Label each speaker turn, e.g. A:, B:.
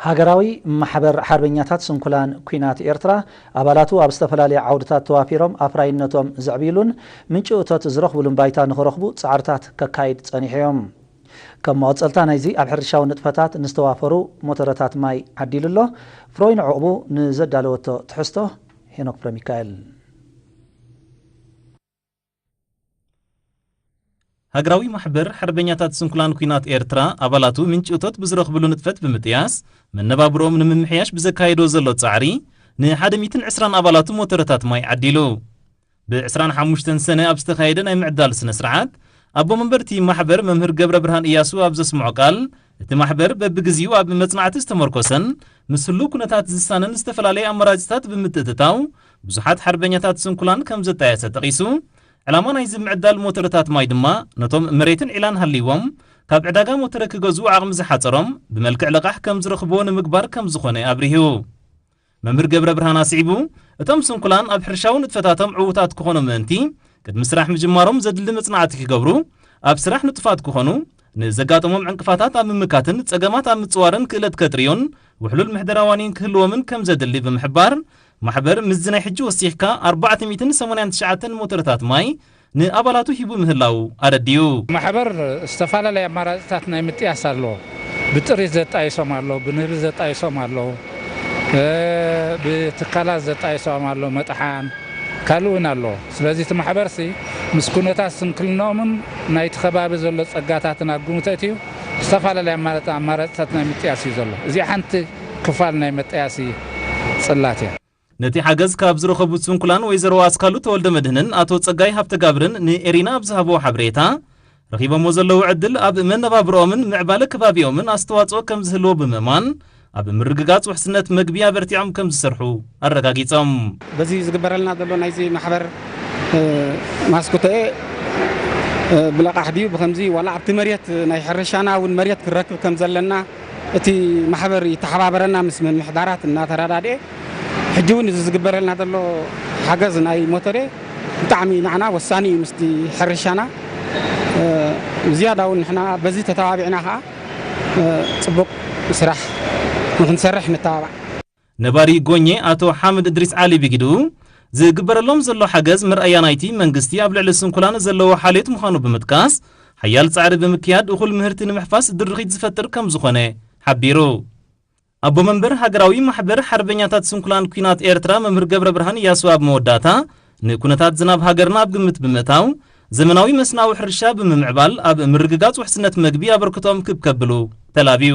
A: ሃገራዊ ማሕበር ሓርበኛታት ስንኩላን ኲናት ኤርትራ፣ ኣባላቱ ኣብ ዝተፈላለየ ዓውድታት ተዋፊሮም ኣፍራይነቶም ዘዕብይሉን ምንጪ እቶት ዝረኽብሉን ባይታ ንኽረኽቡ ጻዕርታት ከካይድ ጸኒሑ እዮ። ከም መቐጸልታ ናይዚ ኣብ ሕርሻዊ ንጥፈታት ንዝተዋፈሩ ሞተረታት ማይ ዓዲሉ ኣሎ። ፍሮይን ዑቕቡ ንዘዳለወቶ ትሕዝቶ ሄኖክ ፍረሚካኤል።
B: ሃገራዊ ማሕበር ሓርበኛታት ስንኩላን ኩናት ኤርትራ ኣባላቱ ምንጪ እቶት ብዝረኽብሉ ንጥፈት ብምጥያስ መነባብሮኦም ንምምሕያሽ ብዘካየዶ ዘሎ ጻዕሪ ንሓደ ሚትን ዕስራን ኣባላቱ ሞተረታት ማይ ዓዲሉ። ብ ዕስራን ሓሙሽተን ሰነ ኣብ ዝተኻየደ ናይ ምዕዳል ስነ-ስርዓት ኣቦ መንበር'ቲ ማሕበር መምህር ገብረብርሃን እያሱ ኣብ ዘስምዖ ቃል እቲ ማሕበር በብግዚኡ ኣብ መጽናዕቲ ዝተመርኮሰን ምስ ህሉው ኩነታት ዝሳነን ዝተፈላለየ ኣማራጺታት ብምትእትታው ብዙሓት ሓርበኛታት ስንኩላን ከም ዘጣየሰ ጠቒሱ፣ ዕላማ ናይዚ ምዕዳል ሞተረታት ማይ ድማ ነቶም መሬትን ዒላን ሃልይዎም ካብ ዕዳጋ ሞተረ ክገዝኡ ዓቕሚ ዝሓጸሮም ብመልክዕ ለቓሕ ከም ዝረኽብዎ ንምግባር ከም ዝኾነ ኣብሪሁ። መምህር ገብረብርሃን ኣስዒቡ፣ እቶም ስንኩላን ኣብ ሕርሻዊ ንጥፈታቶም ዕዉታት ክኾኑ ምእንቲ፣ ቅድሚ ስራሕ ምጅማሮም ዘድሊ መጽናዕቲ ክገብሩ፣ ኣብ ስራሕ ንጡፋት ክኾኑ፣ ንዘጋጠሞም ዕንቅፋታት ኣብ ምምካትን ጸገማት ኣብ ምጽዋርን ክእለት ከጥርዩን ውሕሉል ምሕደራ ዋኒን ክህልዎምን ከምዘድሊ ብምሕባር፣ ማሕበር ምስዚ ናይ ሕጂ ወሲኽካ ኣርባዕተ ሚእትን ሰማንያን ትሽዓተን ሞተረታት ማይ ንኣባላቱ ሂቡ ምህላዉ ኣረዲኡ። ማሕበር
C: ዝተፈላለዩ ኣማራፂታት ናይ ምጥያስ ኣሎ። ብጥሪት ዘጣይሶም ኣሎ፣ ብንህቢ ዘጣይሶም ኣሎ፣ ብትካላት ዘጣይሶም ኣሎ፣ መጥሓን ካልእ እውን ኣሎ። ስለዚ እቲ ማሕበርሲ ምስ ኩነታት ስንክልንኦምን ናይቲ ከባቢ ዘሎ ፀጋታትን ኣብ ግምት ኣእትዩ ዝተፈላለዩ ኣማራፂታት ናይ ምጥያስ እዩ ዘሎ። እዚኣ ሓንቲ ክፋል ናይ መጣያሲ ፅላት እያ። ነቲ ሓገዝ
B: ካብ ዝረኸቡ ስንኩላን ወይዘሮ ኣስካሉ ተወልደመድህንን ኣቶ ጸጋይ ሃብተጋብርን ንኤሪና ኣብ ዝሃብዎ ሓበሬታ፣ ረኺቦምዎ ዘለዉ ዕድል ኣብ መነባብሮኦምን ምዕባለ ከባቢኦምን ኣስተዋጽኦ ከም ዝህልዎ ብምእማን፣ ኣብ ምርግጋጽ ውሕስነት መግቢ ኣበርቲዖም ከም ዝሰርሑ ኣረጋጊጾም። በዚ
D: ዝግበረልና ዘሎ ናይዚ ማሕበር ማስክቶኤ ብለቓሕ ድዩ ብኸምዚ ዋላ ኣብቲ መሬት ናይ ሕርሻና እውን መሬት ክንረክብ ከም ዘለና እቲ ማሕበር ይተሓባበረና ምስ ምምሕዳራት እናተረዳድኤ ሕጂ ውን እዚ ዝግበረልና ዘሎ ሓገዝ ናይ ሞቶሬ ብጣዕሚ ናዓና ወሳኒ እዩ ምስቲ ሕርሻና ዝያዳ ውን ንሕና በዚ ተተባቢዕና ከኣ ጽቡቅ ስራሕ ንክንሰርሕ ንተባባዕ። ነባሪ
B: ጎኜ ኣቶ ሓምድ እድሪስ ዓሊ ብጊድኡ፣ ዝግበረሎም ዘሎ ሓገዝ መርኣያ ናይቲ መንግስቲ ኣብ ልዕሊ ስንኩላን ዘለዎ ሓልዮት ምዃኑ ብምጥቃስ፣ ሓያል ጻዕሪ ብምክያድ እኹል ምህርቲ ንምሕፋስ ድርኺት ዝፈጥር ከምዝኾነ ሓቢሩ። ኣቦ መንበር ሃገራዊ ማሕበር ሓርበኛታት ስንኩላን ኲናት ኤርትራ መምህር ገብረብርሃን ኢያሱ ኣብ መወዳእታ፣ ንኩነታት ዝናብ ሃገርና ኣብ ግምት ብምእታው፣ ዘመናዊ መስናዊ ሕርሻ ብምምዕባል ኣብ ምርግጋጽ ውሕስነት መግቢ ኣበርክቶኦም ክብ ከብሉ ተላብዩ።